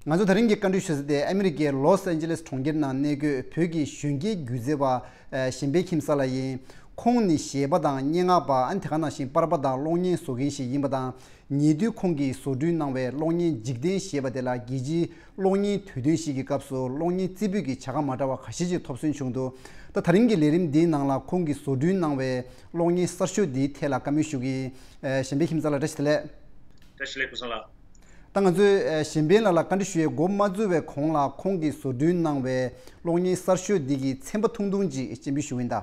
ང་ཚོ་ད་རིང་གི་བཀའ་འཁྲོལ་ཞུ་ས་དེ་ཨ་མི་རི་ཀའི་ལོས་ཨན་ཇི་ལེས་གྲོང་ཁྱེར་ནང་གནས་སྒོས་བོད་ཀྱི་གཞོན་སྐྱེས་སྒྱུ་རྩལ་བ་གཞན་པའི་ཁྱིམ་གསར་ལ་ཡིན། ཁོང་ནི་གཞས་པ་དང་སྙན་ངག་པ་ཨ་ནི་དེ་ག་ནང་བཞིན་པར་པ་དང་གློག་བརྙན་བཟོ་མཁན་ཞིག་ཡིན་པ་དང་ཉེ་དུས་ཁོང་གིས་བཟོ་སྐྲུན་གནང་བའི་གློག་བརྙན་འཇིག་རྟེན་ཞེས་པ་དེ་ལ་རྒྱལ་སྤྱིའི་གློག་བརྙན་དུས་སྟོན་ཞིག་གི་སྐབས་སུ་གློག་བརྙན་རྩིས་འབུལ་གྱི་བྱ་དགའ་མ་འདྲ་བ་ག་ཤེད་ཅིག་ཐོབ་སོན་བྱུང་འདུག་ད་ད་རིང་གི་ལས་རིམ་འདིའི་ནང་ལ་ཁོང་གིས་བཟོ་སྐྲུན་གནང་བའི། གློག་བརྙན་གསར་ཤོས་འདིའི་ཐད་ལ་བཀའ་མོལ་ཞུ་གི། གཞན་པའི་ཁྱིམ་ཚང་ལ་བཀྲ་ཤིས་བདེ་ལེགས། བཀྲ་ཤིས་ལེགས་བུ་སོང་ལགས། ད་ང་ཚོས་གཞན་ཕན་ལགས་ལ་བཀའ་འདྲི་ཞུ་ཡས་མགོ་མ་འཛུལ་བའི་གོང་ལ་ཁོང་གིས་བཟོ་སྐྲུན་གནང་བའི་གློག་བརྙན་གསར་ཤོས་འདི་གི་ཚན་པ་ཐུང་ཐུང་ཅིག་སྤྱན་འབུལ་ཞུ་གིན་གདའ།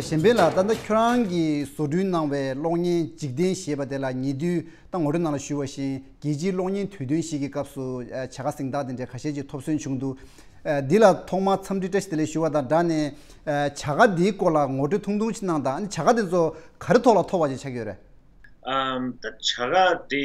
གཞན་ཕན་ལ་ད་ལྟ་ཁྱོད་རང་གིས་བཟོ་སྐྲུན་གནང་བའི་གློག་བརྙན་འཇིག་རྟེན་ཞེས་པ་དེ་ལ་ཉེ་དུས་ད་ངོ་སྤྲོད་གནང་ལ་ཞུ་བ་བཞིན་རྒྱལ་སྤྱིའི་གློག་བརྙན་དུས་སྟོན་ཞིག་གི་སྐབས་སུ་བྱ་དགའ་གཟེངས་རྟགས་དེ་འདྲའི་ཁ་ཤས་ཀྱི་ཐོབ་སོན་བྱུང་འདུག་འདི་ལ་ཐོག་མར་འཚམས་འདྲི་བཀྲ་ཤིས་བདེ་ལེགས་ཞུ་བ་དང་སྦྲགས་ནས། བྱ་དགའ་འདིའི་སྐོར་ལ་ངོ་སྤྲོད་ཐུང་ཐུང་ཞིག་གནང་དང་ཨ་ནི་བྱ་དགའ་དེ་ཚོ་ག་རེ་ཐོག་ལ་ཐོབ་བ་ཞིག་ཆགས་ཀྱི་ཡོད་རེད། ད་བྱ་དགའ་དེ།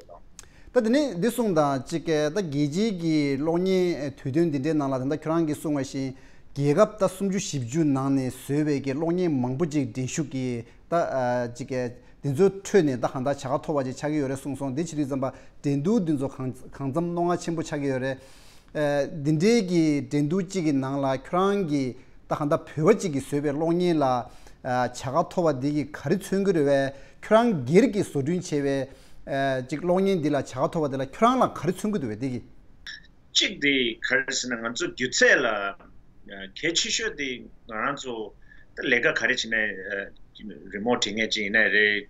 ད་དེ་ནས་འདི་གསུངས་དང་གཅིག་ད་རྒྱལ་སྤྱིའི་གྱི་གློག་བརྙན་དུས་སྟོན་འདི་འདྲའི་ནང་ལ་ད་ཁྱོད་རང་གིས་གསུངས་བ་བཞིན་རྒྱལ་ཁབ་ད་སུམ་ཅུ་བཞི་བཅུ་ནང་ནས་བཟོས་བའི་གྱི་གློག་བརྙན་མང་པོ་ཅིག་འགྲན་ཞུགས་ཀྱིས་ད་གཅིག་འདི་ཚོའི་ཁྲོད་ནས་ད་གང་དག་བྱ་དགའ་ཐོབ་བ་ཅིག་ཆགས་ཀྱི་ཡོད་རེད་གསུངས་སོང་འདི་ཇི་དུས་ཙམ་པ་འགྲན་བསྡུར་འདི་ཚོ་གང་གང་ཙམ་རྣོ་ངར་ཆེན་པོ་ཆགས་ཀྱི་ཡོད་རེད་འདི་འདྲའི་གི་འགྲན་བསྡུར་གཅིག་གི་ནང་ལ་ཁྱོད་རང་གི་ད་ག་འདའ་བོད་པ་གཅིག་གི་བཟོས་པའི་གློག་བརྙན་ལ་བྱ་དགའ་ཐོབ་པ་འདི་གི་ག་རི་མཚོན་གི་རེད་བས་ཁྱོད་རང་སྒེར་གི་བཟོ་སྐྲུན་བྱས་པའི་གཅིག་གློག་བརྙན་འདི་ལ་བྱ་དགའ་ཐོབ་པ་འདི་ལ་ཁྱོད་རང་ལ་ག་རི་མཚོན་གི་འདུག་བས་འདི་གི། གཅིག་དེ་ག་རེ་ཟེར་ན་ང་ཚོ་སྒྱུ་རྩལ་ལ་གལ་ཆེ་ཤོས་དེ་ང་རང་ཚོ་ད་ལས་ཀ་ག་རེ་བྱེད་ན་རི་མོ་བྲིས་ངེས་ཅིག་ཡིན་ན་རེད།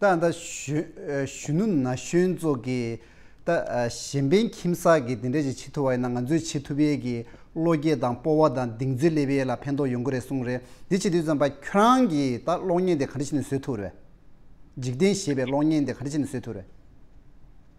ཏག་ཏག་གཞོན་ནུ་ན་གཞོན་ཚོ་གིས་ད་གཞན་ཕན་ཁྱིམ་བསགས་ཀྱིས་དེ་འདྲ་ཞིག་བྱེད་ཐུབ་པ་ཡིན་ན་ང་ཚོས་བྱེད་ཐུབ་ཡས་ཀྱི་བློ་སྐྱེད་དང་སྤོ་བ་དང་གདིང་ཚོད་སླེབས་ཡས་ལ་ཕན་ཐོག་ཡོང་གི་རེད་གསུངས་རེད་འདི་བྱེད་དུས་ཙམ་པ་ཁྱོད་རང་གིས་ད་གློག་བརྙན་དེ་ག་འདྲ་བྱེད་ནས་བཟོས་ཐུབ་རེད། འཇིག་རྟེན་ཞེས་པའི་གློག་བརྙན་དེ་ག་འདྲ་བྱེད་ནས་བཟོས་ཐུབ་རེད།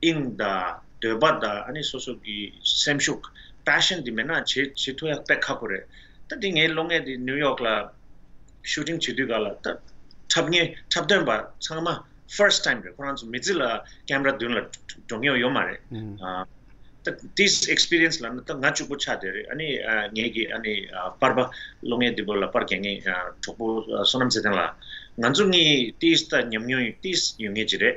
དབྱིངས་དང། འདོད་པ་དང་ཨ་ནི་སོ་སོ་གི་སེམས་ཤུགས passion དེ་མེད་ན་བྱེད་བྱེད་ཐུ་ཡག་པད་ཁག་པོ་རེད། ད་དེ་ངའི་ལོ་ལྔས་དེ་ནིའུ་ཡོག་ལ shooting བྱེད་དུས་ག་ལ་ད་འཁྲབ་ངེས་འཁྲབ་སྟོན་པ་ཚང་མ first time རེད་ཁོ་རང་ཚོ་མི་ཚེ་ལ camera མདུན་ལ་འགྲོ་ངེས་ཡོད་མ་རེད། ད this experience ལ་ནི་ད་ང་བཅུ་པོ་ཆགས་བསྡད་རེད་ཨ་ནི་ངེད་ཀྱི་ཨ་ནི་དཔར་པ་ལོ་ལྔའི་དེ་པོ་ལ་དཔར་གལ་ངེས་གྲོགས་པོ་བསོད་ནམས་ཚེ་བརྟན་ལ། ང་ཚོ་གཉིས this ད་ཉམས་མྱོང this ཡོད་ངེས་ཀྱི་རེད།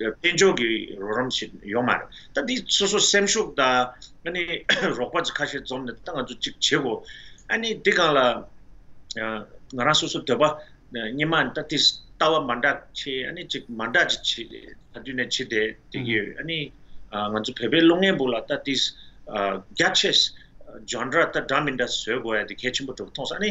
དཔལ་འབྱོར་གྱི་རོགས་རམ་ཞིག་ཡོད་མ་རེད། ད་འདི་སོ་སོ་སེམས་ཤུགས་དང། རོགས་པ་ཁ་ཤས་འཛོམས་ནས་ད་ང་ཚོ་གཅིག་བྱེད་དགོས། ཨཱ་ནི་འདི་གང་ལ། ང་རང་སོ་སོ་འདོད་པ་ཉི་མ་ད་འདི་ལྟ་བ་མ་འདྲ་ཆེ་ཨཱ་ནི་ཅིག་མ་འདྲ་ཅིག་བྱེད་ད་དུས་ནས་བྱེད་དེ་འདི་གི་ཨཱ་ནི། ང་ཚོ་བོད་པའི་བློ་ངན་པོ་ལ་ད་འདི། རྒྱ་ཆེ། འཇོན་འདྲ་ད་འདྲ་མི་འདྲ་བཟོས་དགོས་ཡ་འདི་གལ་ཆེན་པོ་གྲུབ་མཐོང་ཨཱ་ནི།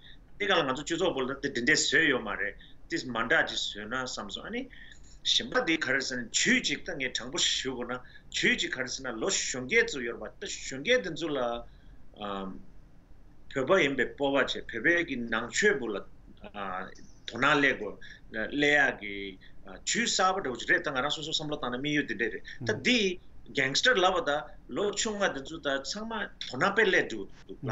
འདི་ག་ལ་ང་ཚོ་སྤྱི་ཚོགས་པོ་ལ་དེ་འདི་འདྲས་བཟོས་ཡོད་མ་རེད་དེ་མ་འདྲ་ཅིག་བཟོས་ན་བསམ་སོང་ཨ་ནི། གཞན་པ་དེ་ག་རེ་ཟེར་ན་ཇུས་གཅིག་ད་ངས་དྲང་པོ་ཞིག་ཞུ་དགོས་ན་ཇུས་གཅིག་ག་རེ་ཟེར་ན་ལོ་གཞོན་སྐྱེས་ཚོ་ཡོད་པ་ད་གཞོན་སྐྱེས་དེ་ཚོ་ལ། བོད་པ་ཡིན་པའི་སྤོབས་པ་ཆེ་བོད་པའི་གི་ནང་ཆོས་པོ་ལ་དོ་སྣང་སླེ་དགོས་སླེ་ཡག་གི་ཇུས་གསར་པ་འདྲ་བོ་ཅིག་རེད་ད་ང་རང་སོ་སོ་བསམ་བློ་བཏང་ན་དམིགས་ཡུལ་དེ་འདྲས་རེད་ད་འདི། Gangster ལབ་པ་ད་ལོ་ཆུང་མ་དེ་ཚོ་ད་ཚང་མ་དོ་སྣང་དཔེ་སླེ་འགྲོ་འདུག་ལ་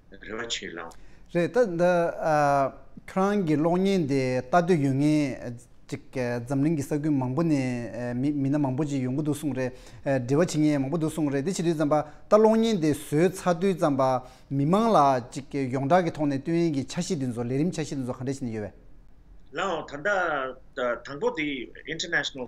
རེ་བ་ཆེ་ལགས། རེད་ད། འདི་ཁྱོད་རང་གི་གློག་བརྙན་དེ་ལྟ་འདོད་ཡོད་ངེས། ཅིག་འཛམ་གླིང་གི་ས་ཁུལ་མང་པོ་ནས་མི་མི་སྣ་མང་པོ་ཅིག་ཡོང་གི་འདུག་གསུངས་རེད། འབྲེལ་བ་བྱེད་མཁན་མང་པོ་འདུག་གསུངས་རེད་དེ་ཕྱི་དུས་ཙམ་པ་ད་གློག་བརྙན་དེ་བཟོས་ཚར་དུས་ཙམ་པ། མི་མང་ལ་ཅིག་ཡོངས་གྲགས་ཀྱི་ཐོག་ནས་སྟོན་ཡན་གྱི་འཆར་གཞི་དེ་ཚོ་ལས་རིམ་འཆར་གཞི་དེ་ཚོ་ག་འདྲ་བྱེད་ནས་ཡོད་བས། ལའང་ད་ལྟ་དང་པོ་དེ International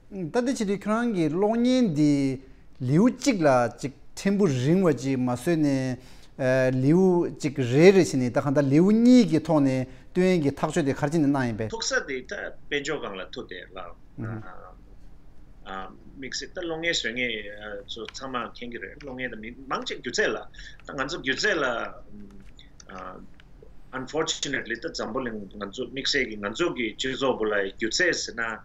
ད་ལྟ་བྱེད་དུས་ཁྱོད་རང་གི་གློག་བརྙན་འདི་ལེའུ་གཅིག་ལ་ཅིག་ཕྲན་བུ་རིང་བ་ཅིག་མ་བཟོས་ནས། ལེའུ་གཅིག་རེ་རེ་བྱས་ནས་ད་ག་ད་ལེའུ་གཉིས་ཀྱི་ཐོག་ནས་ཏུན་ཡན་གྱི་ཐག་གཅོད་དེ་གར་ཅི་ནས་གནང་ཡིན་པས། ཐུག་ས་དེ་ད་དཔལ་འབྱོར་སྒང་ལ་ཐུག་སྟེ་ལགས། དམིགས་བསལ་ད་གློག་བརྙན་བཟོས་ངེས་ཚོ་ཚང་མ་མཁྱེན་གྱི་རེད་གློག་བརྙན་ད་མི་མང་གཅིག་སྒྱུ་རྩལ་ལ་ད་ང་ཚོ་སྒྱུ་རྩལ་ལ། Unfortunately ད་འཛམ་བུ་གླིང་ང་ཚོ་དམིགས་བསལ་གྱི་ང་ཚོ་གི་སྤྱི་ཚོགས་བུ་ལ་སྒྱུ་རྩལ་ཟེར་ན།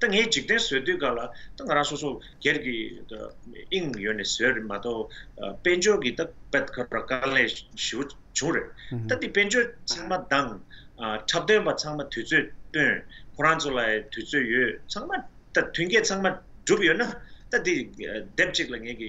ད་ངས་འཇིག་རྟེན་བཟོས་དུས་ཀ་ལ་ད་ང་རང་སོ་སོ་སྒེར་གྱི་དབྱིངས་ཡོད་ནས་བཟོས་རེད་མ་གཏོགས་དཔལ་འབྱོར་གྱི་ད་བད་ཁ་ར་དཀའ་ལས་ཞི་བོ་བྱུང་རེད་ད་འདི་དཔལ་འབྱོར་ཚང་མ་སྡང། འཁྲབ་སྟོན་པ་ཚང་མ་དུས་ཚོད་སྟོན། ཁོ་རང་ཚོ་ལ་དུས་ཚོད་ཡོད་ཚང་མ་ད་མཐུན་རྐྱེན་ཚང་མ་གྲུབ་ཡོད་ན་ད་འདི་དེབ་ཅིག་ལ་ངེད་ཀྱི་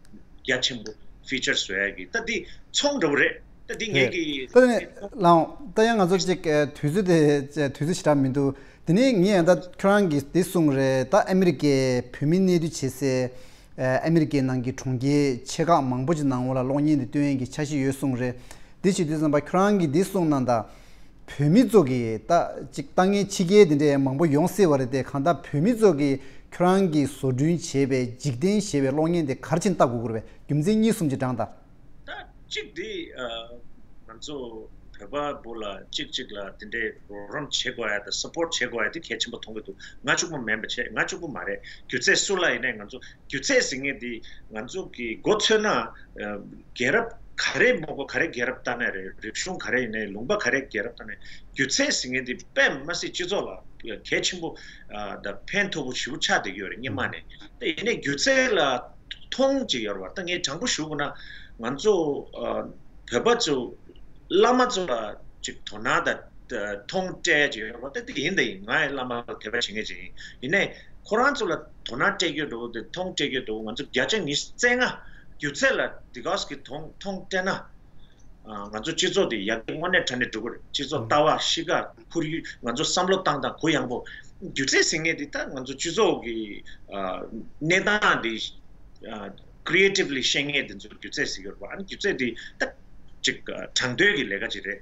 རྒྱ་ཆེན་པོ། Feature Swag། ད་འདི་ཚོང་འདྲ་བོ་རེད། ད་འདི་ངེད་ཀྱི། ད་ནི། ལའང། ད་ཡང་ང་ཚོ་གཅིག་དུས་ཚོད་དེ། དུས་ཚོད་བྱེ་བྲག་མི་འདུག་དེ་ནི་ངས་ཡང་ད་ཁྱོད་རང་གིས་འདི་གསུངས་རེད་ད་ཨ་མི་རི་ཀའི་བོད་མི་གནས་སྡོད་བྱེད་སའི། ཨ་མི་རི་ཀའི་ནང་གི་གྲོང་ཁྱེར་ཆེ་ཁག་མང་པོ་ཆེ་ནང་ངོ་ལ་གློག་བརྙན་འདི་སྟོན་ཡན་གྱི་ཆ་ཤས་ཡོད་གསུངས་རེད་འདི་བྱེད་དུས་བསམ་པ་ཁྱོད་རང་གིས་འདི་གསུངས་གནང་ད་བོད་མི་ཚོ་གིས་ད་ཅིག་ལྟ་ངན་ཕྱི་རྒྱལ་དེ་འདྲས་མང་པོ་ཡོང་སྲིད་བ་རེད་དེ་གང་ལྟར་བོད་མི་ཚོ་གིས་ཁྱོད་རང་གིས་བཟོ་བསྐྲུན་བྱས་པའི་འཇིག་རྟེན་ཞེས་པའི་གློག་བརྙན་དེ་གར་ཕྱིན་ལྟ་དགོས་དགོས་པའི་རྒྱུ་མཚན་གཉིས་གསུམ་གྱི་བགྲང་ད། ད་ཅིག་འདི་ང་ཚོ་བོད་པ་པོ་ལ་ཅིག་ཅིག་ལ་དེ་འདྲས་རོགས་རམ་བྱེད་དགོས་ཡ་ད་སུ་པོར་བྱེད་དགོས་ཡ་དེ་གལ་ཆེན་པོ་མཐོང་གི་འདུག་ང་ཅུག་པོ་མེན་པ་ཆེ་ང་ཅུག་པོ་མ་རེད་རྒྱུ་ཚད་སུ་ལ་ཡིན་ནས་ང་ཚོ་སྒྱུ་རྩལ་ཟེར་མཁན་དེ་ང་ཚོ་གི་མགོ་ཚོས་ན་རྒྱལ་རབས་ག་རེ་མགོ་པོ་ག་རེ་རྒྱལ་རབས་ལྟ་ནས་རེད་རིག་གཞུང་ག་རེ་ཡིན་ནའི་ལུང་པ་ག་རེ་རྒྱལ་རབས་ལྟ་ནས་སྒྱུ་རྩལ་ཟེར་མཁན་དེ་དཔེ་མ་སྲིད་སྤྱི་ཚོགས་ལ་གལ་ཆེན་པོ་ད་ཕན་ཐོག་པོ་ཞིག་པོ་ཆགས་བསྡད་ཀྱི་ཡོད་རེད་སྙེ་མ་ནས་ད་ཡིན་ནའི་སྒྱུ་རྩལ་ལ་ཐོང་ཅིག་ཡོད་རེད་བ་ད་ངས་དྲང་པོ་ཞུ་དགོས་ན་ང་ཚོ་བོད་པ་ཚོ་བླ་མ་ཚོ་ལ་ཅིག་དོ་ན་ད་ཐོང་སྤྲད་ཅིག་ཡོད་རེད་བ་ད་དེ་ཡིན་ད་ཡིན་ང་ཡི་བླ་མ་ལ་དད་པ་བྱེད་མཁན་ཅིག་ཡིན་ཡིན་ནའི་ཁོ་རང་ཚོ་ལ། དོ་སྣང་སྤྲད་རྒྱུ་འགྲོ་བོ་དེ་མཐོང་སྤྲད་རྒྱུ་འགྲོ་བོ་ང་ཚོ་བརྒྱ་ཆ་ཉིས་བརྩེགས་ལྔ་སྒྱུ་རྩལ་ལ་དེ་ག་ཟེ་གི་མཐོང་སྤྲད་ན། ང་ཚོ་སྤྱི་ཚོགས་དེ་ཡར་རྒྱས་དངོས་གནས་དྲ་ནས་འགྲུབ་པར་སྤྱི་ཚོགས་ལྟ་བ་ཤི་ག་འཁུར་ཡུལ་ང་ཚོ་བསམ་བློ་བཏང་སྟངས་གུ་ཡངས་པོ། སྒྱུ་རྩལ་ཟེར་ངེས་དེ་ད་ང་ཚོ་སྤྱི་ཚོགས་ཀྱི་གནས་སྟངས་དེ Creatively ཤེས་ངེས་དེ་ཚོ་སྒྱུ་རྩལ་ཟེར་གི་ཡོད་རེད་པ། ཨ་ནི་སྒྱུ་རྩལ་དེ་ད་ཅིག་དྲང་དོན་གྱི་ལས་ཀ་ཅིག་རེད།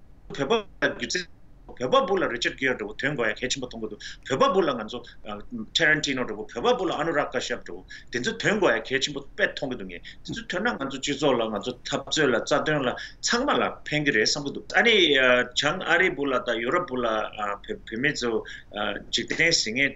བོད་པ་སྒྱུ་རྩལ་བོད་པ་པོ་ལ་རི་ཆར་གིར་འགྲོ་བོ་དོན་གོ་ཡ་གལ་ཆེན་པོ་མཐོང་གི་འདུག་བོད་པ་པོ་ལ་ང་ཚོ Tarantino འགྲོ་བོ་བོད་པ་པོ་ལ Anurag Kashyap འགྲོ་བོ་དེ་ཚོ་དོན་གོ་ཡ་གལ་ཆེན་པོ་དཔེ་མཐོང་གི་འདུག་ངས་དེ་ཚོ་ཐོན་ན་ང་ཚོ་སྤྱི་ཚོགས་ལ་ང་ཚོ་འཐབ་རྩོད་ལ་རྩ་དོན་ལ་ཚང་མ་ལ་ཕན་གི་རེད་བསམ་གི་འདུག་ཨ་ནི་བྱང་ཨ་རི་བོ་ལ་དང་ཡུ་རོབ་བོ་ལ་བོད་མི་ཚོ་འཇིག་རྟེན་ཟིན་ངེས།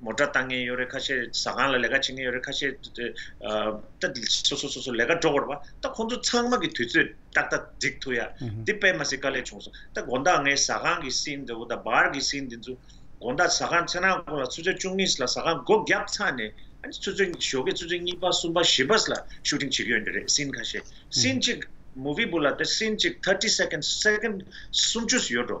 མོ་སྒྲ་བཏང་ངེས་ཡོད་རེད་ཁ་ཤས་ཟ་ཁང་ལ་ལས་ཀ་བྱེད་ངེས་ཡོད་རེད་ཁ་ཤས་སོ་སོ་སོ་སོ་ལས་ཀ་འགྲོ་དགོས་རེད་པ་ད་ཁོང་ཚོ་ཚང་མ་གི་དུས་ཚོད་ཏག་ཏག་འགྲིག་ཐུག་ཡ་འདི་དཔེ་མ་ཟིག་དཀའ་ལས་བྱུང་སོང་ད་དགོན་བདག་ངའི་ཟ་ཁང་གི་སྲིན་འདི་འོ་ད་བར་གི་སྲིན་འདི་ཚོ་དགོན་བདག་ཟ་ཁང་ཚེ་ནང་ཁོང་ལ་ཆུ་ཚོད་བཅུ་གཉིས་ལ་ཟ་ཁང་སྒོ་བརྒྱབ་ཚར་ནས་ཨ་ཆུ་ཚོད་ཞོགས་ཀྱི་ཆུ་ཚོད་གཉིས་པ་གསུམ་པ་བཞི་པ་ལ་ཤུ་ཏིང་བྱེད་ཀྱི་ཡོད་འདི་རེད་སྲིན་ཁ་ཤས་སྲིན་གཅིག་མོ་བི་བུ་ལ་དེ་སྲིན་གཅིག thirty seconds second སུམ་ཅུ་ཡོད་འགྲོ།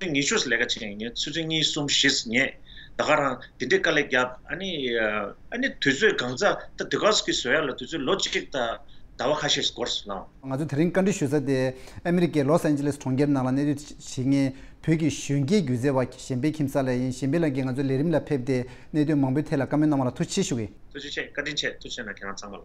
ཚུལ་ངེས་ཤོས་སུ་ལས་ཀ་བྱེད་མཁན་ཡིན་ཚུལ་ཚུལ་གཉིས་གསུམ་བཞི་སུ་ངེས། ད་ག་རང་དེ་འདྲའི་དཀའ་ལས་བརྒྱབ་ཨ་ནི། ཨ་ནི་དུས་ཚོད་གང་ཚ་ད་དུས་ཁག་སུ་ཁྱི་ཟོས་ཡ་ལ་དུས་ཚོད་ལོ་གཅིག་ད་ཟླ་བ་ཁ་ཤས་སུ་འགོར་སུ་སྣང། ང་ཚོ་དེ་རིང་བཀའ་འདྲི་ཞུ་ས་དེ་ཨ་མི་རི་ཀའི་ལོ་སན་ཇི་ལེས་གྲོང་ཁྱེར་ནང་ལ་གནས་སྡོད་བྱེད་མཁན་བོད་ཀྱི་གཞོན་སྐྱེས་སྒྱུ་རྩལ་བ་གཞན་པའི་ཁྱིམ་ས་ལ་ཡིན་གཞན་པའི་ལམ་གྱིས་ང་ཚོ་ལས་རིམ་ལ་ཕེབས་ཏེ་གནས་སྡོད་མང་པོའི་ཐད་ལ་བཀའ་མོལ་གནང་བ་ལ་ཐུགས་ཆེ་ཞུ་གི། ཐུགས་རྗེ་ཆེ་བཀའ་དྲིན་ཆེ་ཐུགས་ཆེ་ན་ཁྱེད་རང་ཚང་མ་ལ།